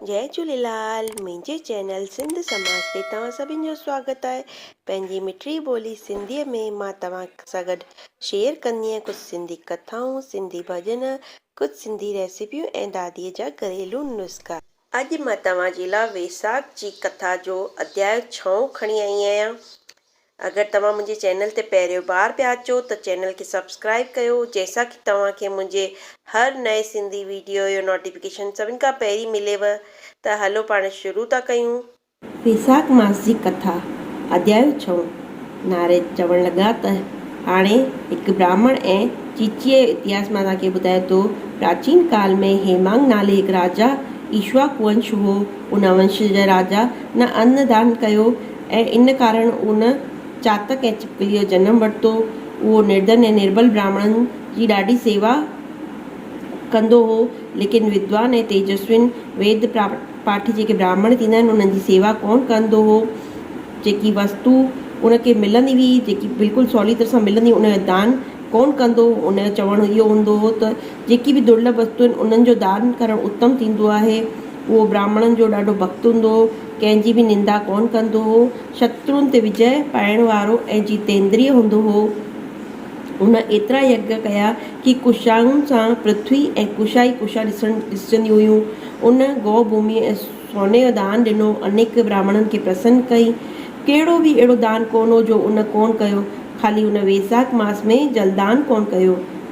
جئي جھوليلال منهنجي چينل سنڌ سماج تي توهان سڀن جو سواگت آهي پنهنجي مٺڙي ٻولي سنڌي ۾ مان توهان سان گڏ شيئر ڪندينء ڪجھ سنڌي ڪٿائون سنڌي ڀڄن ڪجھ سنڌي ريسيپيون ۽ دادي جا گھريلو نسخا. اڄ مان توهان جي لا ويساک جي ڪٿا جو اڌياء ڇهون کڻي آئي آهيان اگر توهان منهنجي چينل تي پهريون بار پيا اچو ته چينل کي سبسڪرائيب ڪيو جنهن سان ڪي توهان کي منهنجي هر نئين سنڌي ويڊيو يو نوٽيفڪيشن سڀن کان پهرين مليو ته هلو پاڻ شروع ٿا ڪيون. ويساک ماس جي ڪٿا اڌيايو ڇهون، نارد چوڻ لڳا ته هاڻي هڪ براهمڻ ۽ چيچيء جو اتهاس مان توهان کي ٻڌايان ٿو. پراچين ڪال ۾ هيمانگ نالي هڪ راجا ايشواڪ ونش هو. ان ونش جا راجا نه ان دان ڪيو ۽ ان ڪارڻ ان چاتڪ ۽ ڇپڪليء جو جنم ورتو. اهو نردن ۽ نربل براهمڻن جي ڏاڍي سيوا ڪندو هو، ليڪن ودوان ۽ تيجسوين ويد پاٺي جيڪي براهمڻ ٿيندا آهن، انهن جي سيوا ڪونه ڪندو هو. جيڪي وستو ان کي ملندي هئي، جيڪي بلڪل سولي طرح سان ملندي هئي، ان جو دان ڪونه ڪندو هو. ان جو چوڻ اهو هوندو هو ته جيڪي به درلڀ وستو آهن، انهن جو دان ڪرڻ اتم ٿيندو آهي. اهو براهمڻن جو ڏاڍو ڀڳت هوندو هو. ڪنهن جي به نندا ڪونه ڪندو هو، شترون تي وجئه پائڻ وارو ۽ جيتيندريء هوندو هو. هن ايترا يگّ ڪيا ڪي ڪشائن سان پرٿوي ۽ ڪشا ئي ڪشا ڏسجنديون هيون. هن گو ڀوميء ۽ سوني جو دان ڏنو، انيڪ براهمڻن کي پرسن ڪئي. ڪهڙو به اهڙو دان ڪونه هو جو هن ڪونه ڪيو، خالي هن ويساک ماس ۾ جلدان ڪونه ڪيو.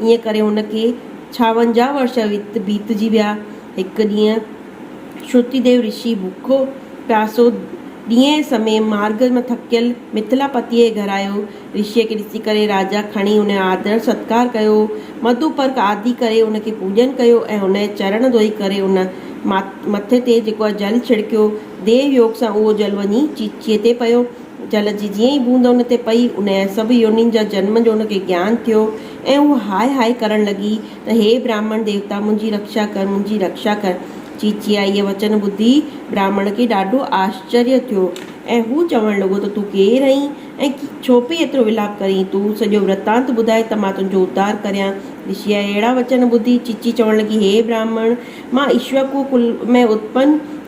ان ڪري هن کي ڇاونجاهه ورش بيتجي ويا. هڪ ڏينهن شروتديو رشي بکو پياسو ڏينهن سمي مارگ مان ٿڪيل مٿلا پتيء جي گهر آيو. رشيء کي ڏسي ڪري راجا کڻي ان جو آڌر ستڪار ڪيو. مڌو پرڪ آدي ڪري ان کي پوڄن ڪيو ۽ ان جا چرڻ ڌوئي ڪري ان مٿي تي جيڪو آهي جل ڇڙڪيو. ديو يوگ سان اهو جل وڃي چيچيء تي پيو. جل جي جيئن ئي بوند ان تي پئي، ان جا سڀ يونين جا جنم جو ان کي گيان ٿيو ۽ هوء هاء هاء ڪرڻ لڳي ته هي براهمڻ ديوتا منهنجي رڪشا ڪر، منهنجي رڪشا ڪر. چيچيء اهي وچن ٻڌي براهمڻ کي ڏاڍو آشچريه ٿيو ۽ هو چوڻ لڳو ته تون ڪير آهين ۽ ڇو پئي ايترو ولاپ ڪرين؟ تون سڄو ورتانت ٻڌاء ته مان تنهنجو ادار ڪريان. رشيء جا اهڙا وچن ٻڌي چيچي چوڻ لڳي، هي براهمڻ! مان اشوڪ ڪل ۾ اتپن،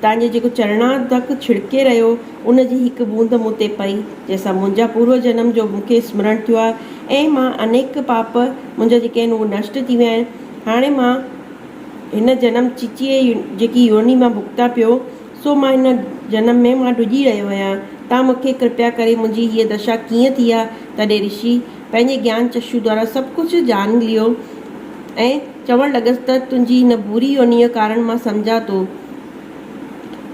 تنهن جي جيڪو چرڻادڪ ڇڙڪي رهيو، ان جي هڪ بوند مون تي پئي، جنهن سان منهنجا پورو جنم جو مون کي اسمرڻ ٿيو آهي ۽ مان انيڪ پاپ منهنجا جيڪي آهن اهي نشٽ ٿي ويا آهن. هاڻي مان هن جنم چيچي جيڪي يوني مان ڀڳتان پيو، سو مان هن جنم ۾ مان ڊڄي رهيو آهيان. توهان مون کي ڪرپيا ڪري منهنجي هيء دشا ڪيئن ٿي آهي؟ تڏهن رشي پنهنجي گيان چشو دوارا سڀ ڪجهه ڄاڻي ليو ۽. چوڻ لڳس ته تنهنجي ان بوري يونيء ڪارڻ مان سمجهان ٿو.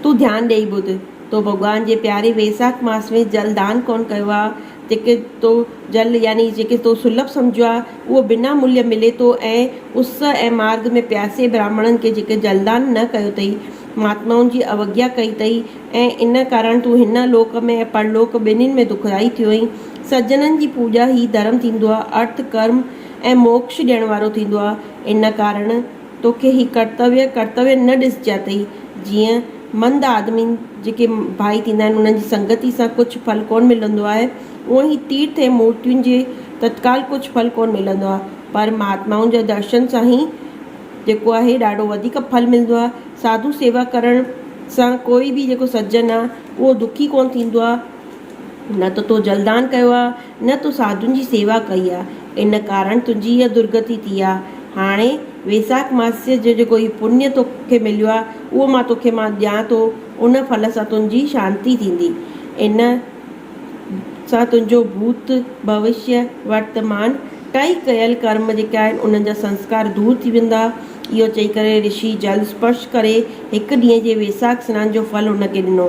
تون ڌيان ڏيئي ٻڌ. تو ڀڳوان جي پياري ويساک ماس ۾ جل دان ڪونه ڪيو آ. جيڪي تو جل يعني جيڪي تو سلڀ سمجهيو آ، اهو بنا ملهه ملي ٿو ۽ اس ۽ مارگ ۾ پياسي براهمڻن کي جيڪي جلدان نه ڪيو اٿئي، مهاتمائن جي اوگيا ڪئي اٿئي ۽ ان ڪارڻ تون هن لوڪ ۾ ۽ پرلوڪ ٻنهين ۾ دکدائي ٿيو اهين. سجنن جي پوڄا هي ڌرم ٿيندو آ. ارٿ، ڪرم، ۽ موڪش ڏيڻ وارو ٿيندو آ، ان ڪارڻ توکي هي ڪرتويه ڪرتويه نه ڏسجاتئي، جيئن مند آدمين جيڪي ڀائي ٿيندا آهن، انهن جي سنگتي سان ڪجهه ڦل ڪونه ملندو آهي، اونئن هي تيرٿ ۽ مورتين جي تتڪال ڪجهه ڦل ڪونه ملندو آ، پر مهاتمائن جا درشن سان هي جيڪو آهي ڏاڍو وڌيڪ ڦل ملندو آ، ساڌو سيوا ڪرڻ سان ڪوئي به جيڪو سجن آ، اهو دکي ڪونه ٿيندو آ، نه ته تو جلدان ڪيو آ. نه تو ساڌن جي سيوا ڪئي آ، ان ڪارڻ تنهنجي اها درگتي ٿي آ. هاڻي ويساک ماسيه جو جيڪو هي پڃ تو کي مليو آ، اهو مان تو کي مان ڏيان ٿو، ان ڦل سان تنهنجي شانتي ٿيندي. ان سان تنهنجو ڀوت، ڀوشيه، ورتمان ٽئي ڪيل ڪرم جيڪي آهن، انهن جا سنسڪار دور ٿي ويندا. اهو چئي ڪري رشي جل اسپرش ڪري هڪ ڏينهن جي ويساک سنان جو ڦل هن کي ڏنو.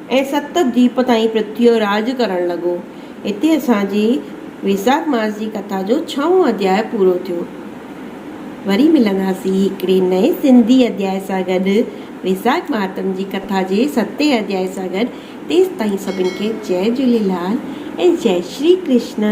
۽ ست ديپ تائين پرٿويء راڄ ڪرڻ لڳو. هتي اسان جي ويساک ماس جي ڪٿا جو ڇهون اڌياء پورو ٿيو. وري ملنداسين هڪڙي نئين سنڌي اڌياء سان گڏ ويساک مهاتم جي ڪٿا جي ستين اڌياء سان گڏ تيستائين سڀن کي جئه جهوليلال ۽ جئه شري ڪرشنا.